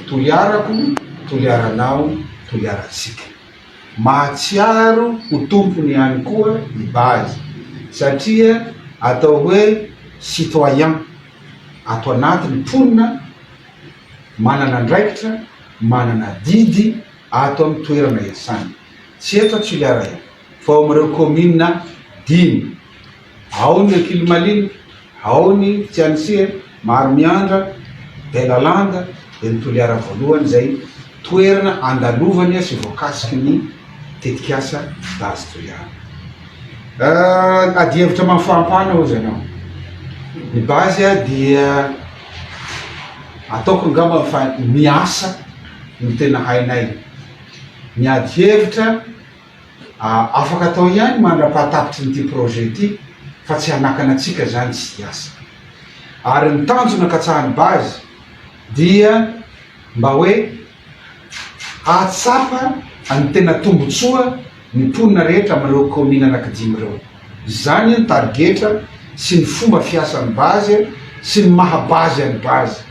Toliarako, toliaranao, toliarantsika. Mahatsiaro ho tompony ihany koa i Baz satria atao hoe citoyen ato anatiny, mponina manana andraikitra, manana adidy ato amin'ny toerana iasany. Tsy eto Toliara fa ao amin'ireo kaominina dimy. Ao ny Ankilimaliana, ao ny Tsianisiha, Maromiandra, Belalanda, dia ny Toliara Voalohany izay toerana andalovany sy voakasiky ny tetikasa Dazy Toliara. Adihevitra amin'ny fahampana hozy ianao. Ny base dia ataoko angamba fa ny asa no tena hainay. Ny adihevitra. Afaka atao ihany mandra-pahatapitry ny ity projet ity fa tsy hanakana antsika izany tsy hiasa. Ary ny tanjona katsahan'ny base dia mba hoe hahatsapa ny tena tombotsoa ny mponina rehetra amin'ireo kaominina anankidimy ireo. Izany ny tarigetra sy ny fomba fiasan'ny base sy ny maha-base an'ny base.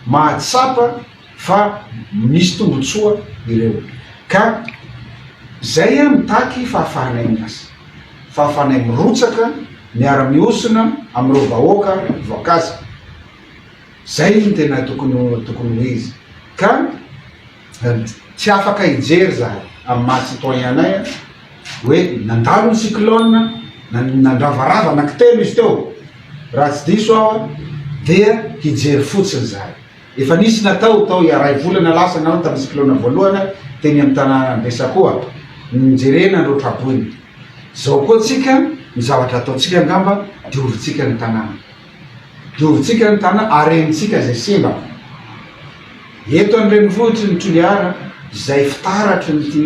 Mahatsapa. fa misy tombotsoa ireo ka zay ah mitaky fahafahanay miasa, fahafahanay mirotsaka miara mihosona amin'ireo vahoaka voakaza, zay no tena tokony tokony ho izy ka tsy afaka hijery zahay amin'ny maha citoyen anay ah hoe nandalo ny cyclone nandravarava anaky telo izy teo raha tsy diso aho ah dia hijery fotsiny zahay. Efa nisy natao tao iray volana lasa nao tamin'ny cyclone voalohana teny amin'ny tanànan'i Bessacoa ny nijerena an'ireo traboina. Izao koa tsika ny zavatra ataontsika angamba diovintsika ny tanàna. Diovintsika ny tanàna harenintsika izay simba. Eto an-drenivohitry ny Toliara izay fitaratry ity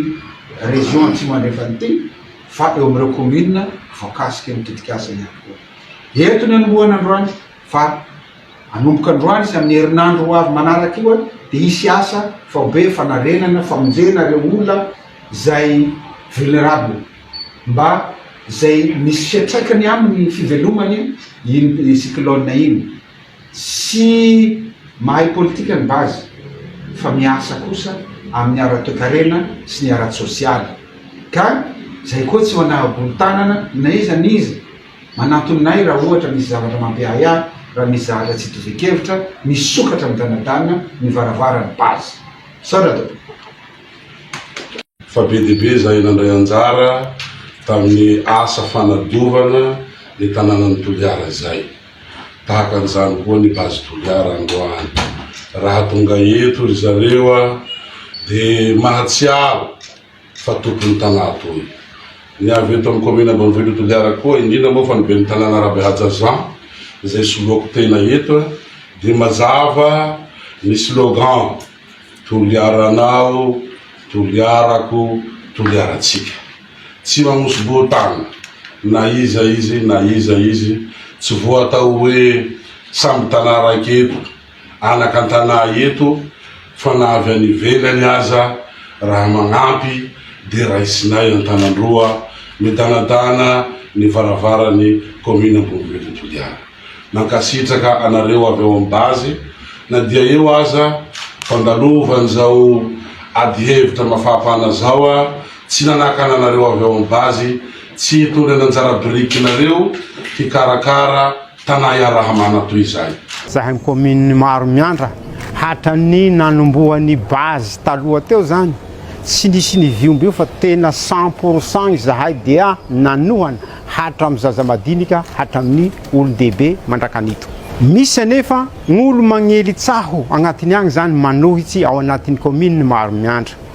région Atsimo Andrefana ity fa eo amin'ireo commune voakasiky ny tetikasa ihany koa. Eto ny anombohana androany. Fa hanomboka androany sy amin'ny herinandro ho avy manaraka io dia hisy asa faobe fanarenana, famonjena ireo olona izay vulnerable mba izay misy fiantraikany amin'ny fivelomany iny cyclone iny. Tsy mahay politika ny base fa miasa kosa amin'ny ara-toekarena sy ny ara-tsosialy ka izay koa tsy manaha-bolotanana na iza n'iza. Manantona ahy raha ohatra misy zavatra mampiahy ahy raha misy zahatra tsy itovian-kevitra, misokatra midanadana ny varavarany base. Misaotra tompoko. Fa be dia be izahay nandray anjara tamin'ny asa fanadiovana ny tanànan'i Toliara izay. Tahaka an'izany koa ny Base Toliara androany. Raha tonga eto ry zareo dia mahatsiaro. fa tompon'ny tanà toy ny avy eto amin'ny kaominina ambanivohitr'i Toliara koa, indrindra moa fa ny ben'ny tanàna Rabehaja Jean izay soloako tena eto dia mazava ny slogan Toliaranao, Toliarako, Toliarantsika. Tsy mamosobohon-tàna na iza izy na iza izy, tsy voatao hoe samy tanà raika eto anakan-tanà eto fa na avy any ivelany aza raha magnampy de raisinay Antanandroa midanadana ny varavaran'ny commune Ambonivohitra Toliara. Mankasitraka anareo avy ao amin'ny base na dia eo aza fandalovan'izao ady hevitra mafampana zao a tsy nanakana anareo avy ao amin'ny base tsy hitondra ny anjara birikinareo hikarakara Tanà iaraha-manana toy izay. Izahay ny commune maro miandra hatran'ny nanombohan'ny base taloha teo izany tsy nisy niviombo io fa tena cent pour cent izahay dia nanohana hatramin'ny zaza madinika hatramin'ny olon-dehibe mandrakan'ito. Misy anefa olo magnely tsaho agnatiny agny izany manohitsy ao anatin'ny commune maro miandra.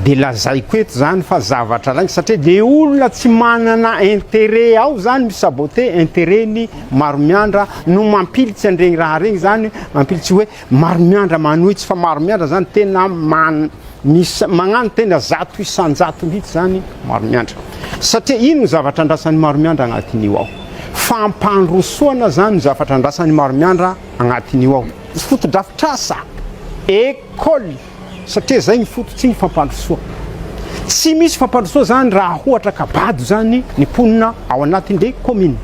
dia lazaiko eto zany fa zavatra rainy satria dia olona tsy manana intérêt ao zany mi saboter intérêt ny Maromiandra no mampilitsy an'iregny raha regny zany mampilitsy hoe Maromiandra manohitsy fa Maromiandra zany tena man mis magnano tena zato isan-jato mihitsy zany Maromiandra satria ino ny zavatra andrasan'i Maromiandra agnatin'io ao fampandrosoana zany ny zavatra andrasan'i Maromiandra agnatin'io ao fotodrafitrasa école Satria zay ny foto tsy ny fampandrosoa. Tsy misy fampandrosoa zany raha hohatra ka bado zany ny mponina ao anatin le commune.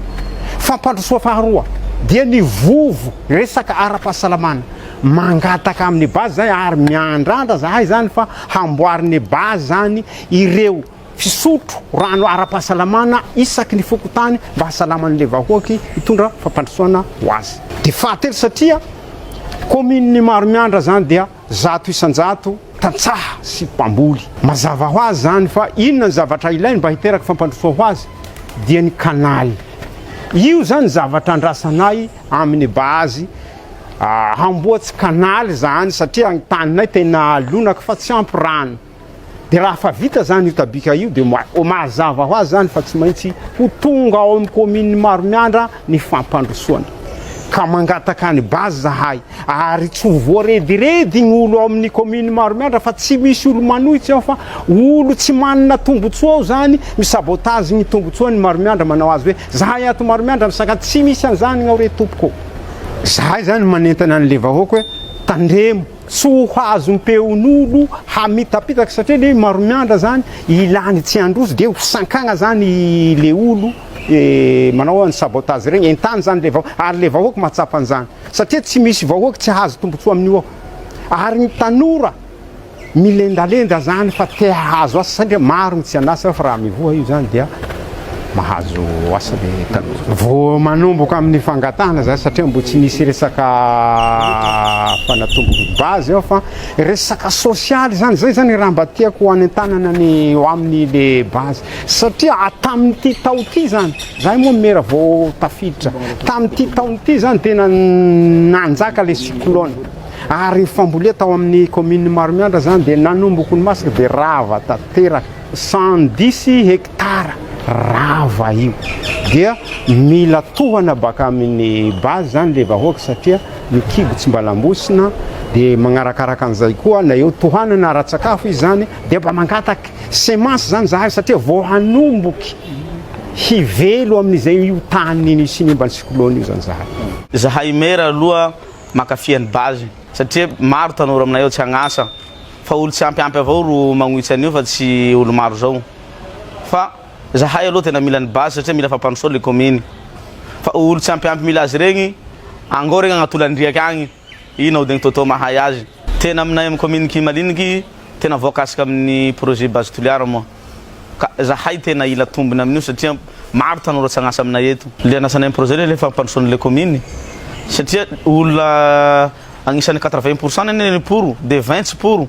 Fampandrosoa faharoa dia ny vovo resaka ara-pahasalamana. Mangataka aminy base zay ary miandrandra zahay zany fa hamboariny base zany ireo. Fisotro rano ara-pahasalamana isaky ny fokontany mba hasalaman'ilay vahoaky hitondra fampandrosoana ho azy. Dia fahatelo satria kaominin'i Maromiandra izany dia zato isan-jato tantsaha sy mpamboly. Mazava ho azy izany fa inona ny zavatra ilainy mba hiteraka fampandrosoa ho azy dia ny kanaly. Io izany zavatra andrasanay amin'ny base hamboatsy kanaly izany satria ny taninay tena lonaka fa tsy ampy rano. Dia raha fa vita zany io tabika io dia mazava ho azy zany fa tsy maintsy ho tonga ao amin'ny commune Maromiandra ny fampandrosoana. Ka mangataka any base zahay ary tsy ho voarediredy ny olo ao amin'ny commune Maromiandra fa tsy misy olo manohitra ao fa olo tsy manana tombotsoa ao zany mi sabotage ny tombotsoa ny Maromiandra manao azy hoe zahay ato Maromiandra misaka tsy misy an'izany ao re tompoko. Zahay zany manentana an'le vahoaka hoe tandremo. Tsy ho hazon peonolo hamitapitaka satria le maromiandra zany ilany tsy handroso de ho sankagna zany le olo manao any sabotage regny entany zany le vahoaka ary le vahoaka mahatsapa anzany satria tsy misy vahoaka tsy hahazo tombotsoa amin'io ao ary ny tanora milendalenda zany fa te hahazo asa satria maro ny tsy an'asa fa raha mivoha io zany dia mahazo asa ny tanora. Vao manomboka amin'ny fangatahana izany satria mbola tsy nisy resaka fanatomboky base ao fa resaka sosialy izany, izay izany raha mba tiako hanentanana ny ho amin'ny le base satria tamin'ity tao ity izany, izahay moa mera vao tafiditra, tamin'ity taona ity izany tena nanjaka le cyclone ary fambolia tao amin'ny commune Maromiandra izany dia nanomboka ny masaka dia rava tanteraka, cent dix hectares. tara rava io dia mila tohana baka amin'ny base zany le vahoaka satria ny kibo tsy mba lambosina dia magnarakaraka an'izay koa na eo tohanana ara-tsakafo izy zany dia mba mangataky semence zany zahay satria vao hanomboky hivelo amin'izay io tany nisy nimba ny cyclone io zany zahay zahay maire aloha mankafy an'i base satria maro tanora aminay ao tsy agn'asa fa olo tsy ampy ampy avao ro magnohitsa an'io fa tsy olo maro zao fa zahay aloha tena mila ny base satria mila fampandrosoana ny commune fa olo tsy ampy ampy mila azy regny angao regny agnaty olan-driaka agny ino aodigny Toto mahay azy tena aminay amin'ny commune Kimaliniky tena voakasika amin'ny projet base Toliara moa ka zahay tena ila tombony amin'io satria maro tanora tsy agn'asa aminay eto le anasanay projet le le fampandrosoana le commune satria olona agnisan'ny quatre vingt pourcent nene le pour de vingt tsy pour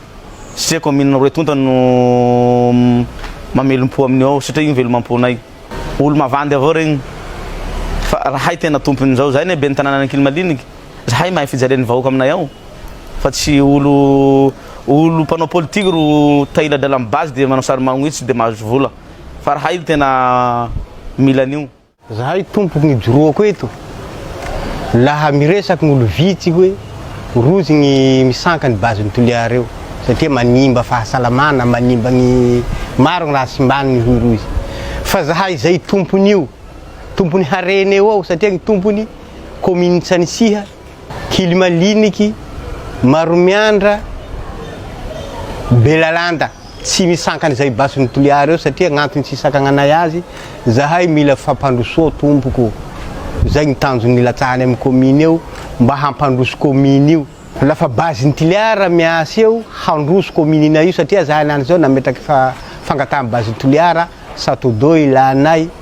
Satria kaominina roa tonta no mamelom-po amin'io ao satria io velomam-ponay. Olo-mavandy avao regny fa rahay tena tompon'izao. Zahay anie ben'ny tanànan'Ankilimaliniky, zahay mahay fijalian'ny vahoaka aminay ao fa tsy olo olo mpanao politique ro tahiladralan'ny base dia manao sary magnitsy dia mahazo vola fa rahay tena mila an'io. Zahay tompoko ny ijoroako eto laha miresaky ny olo vitsy hoe rozy ny misanka ny base ny Toliara eo satria manimba fahasalamana manimba ny maro ny raha simbany ny hoy rozy fa zahay zay tompony io tompony harena eo ao satria ny tompony commune Tsanisiha Kilimaliniky, Maromiandra, Belalanda, tsy misy sankana izay basiny Toliara eo satria agnantony tsy hisakananay azy, zahay mila fampandrosoa tompoko, zay gny tanjony nilatsahany amy commune eo mba hampandroso commune io, lafa basiny Toliara miasa eo handroso commune nay io satria zahay anany zao nametraky fa fangataha basiny Toliara, Satodo ilanay.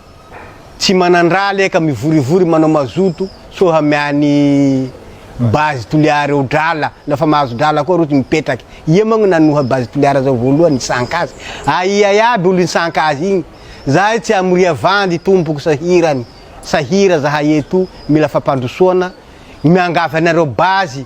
Tsy manandraha aleha ka mivorivory manao mazoto so hamea ny base Toliara eo drala na fa mahazo drala koa roty mipetraky ia moa no nanoha base Toliara zao voalohany nisanka azy aia iaby olo nisanka azy igny zahay tsy amoria vandy tompoko sahirany sahira zahay eto mila fampandrosoana miangavy anareo base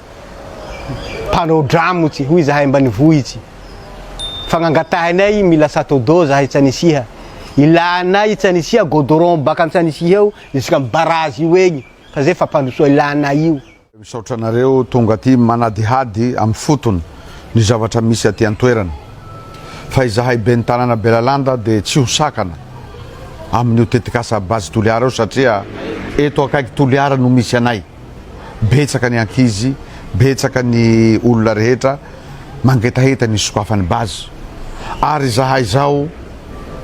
mpanao dramo tsy hoy zahay ambanivohitsy fagnangatahanay mila sato d'eau zahay tsanisiha ilanay tsanisiha godoron baka antsanisiha eo jusqu'à am barazy io egny fa zay fampandrosoa ilanay io Misaotra anareo tonga aty manadihady amin'ny fotony ny zavatra misy aty an-toerana. Fa izahay ben'ny tanàna Belalanda dia tsy ho sakana amin'io tetikasa Base Toliara io satria eto akaiky Toliara no misy anay. betsaka ny ankizy, betsaka ny olona rehetra mangetaheta ny hisokafany base ary izahay izao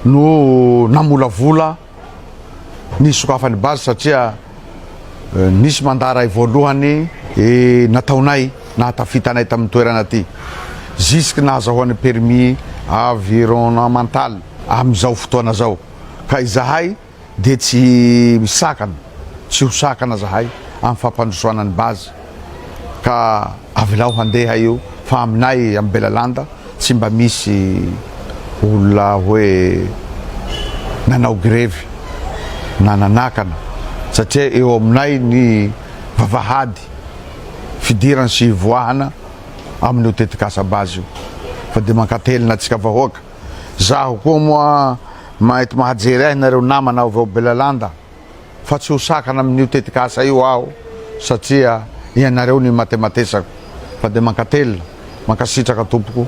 no namolavola ny hisokafany base satria nisy mandat ray voalohany nataonay nahatafitanay tamin'ny toerana aty jusque nahazahoany permis avironnemental amin'izao fotoana izao ka izahay dia tsy misakana tsy ho sakana zahay amin'ny fampandrosoana ny base ka avelao handeha io fa aminay amin'ny Belalanda tsy mba misy olona hoe nanao grevy na nanakana satria eo aminay ny vavahady fidirana sy hivoahana amin'io tetikasa base io fa dia mankatelina antsika vahoaka. Zaho koa moa mety mahajery ahy nareo namana avy ao Belalanda fa tsy ho sakana amin'io tetikasa io aho satria ianareo no imatematesako fa dia mankatelina, mankasitraka tompoko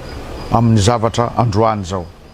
amin'ny zavatra androany izao.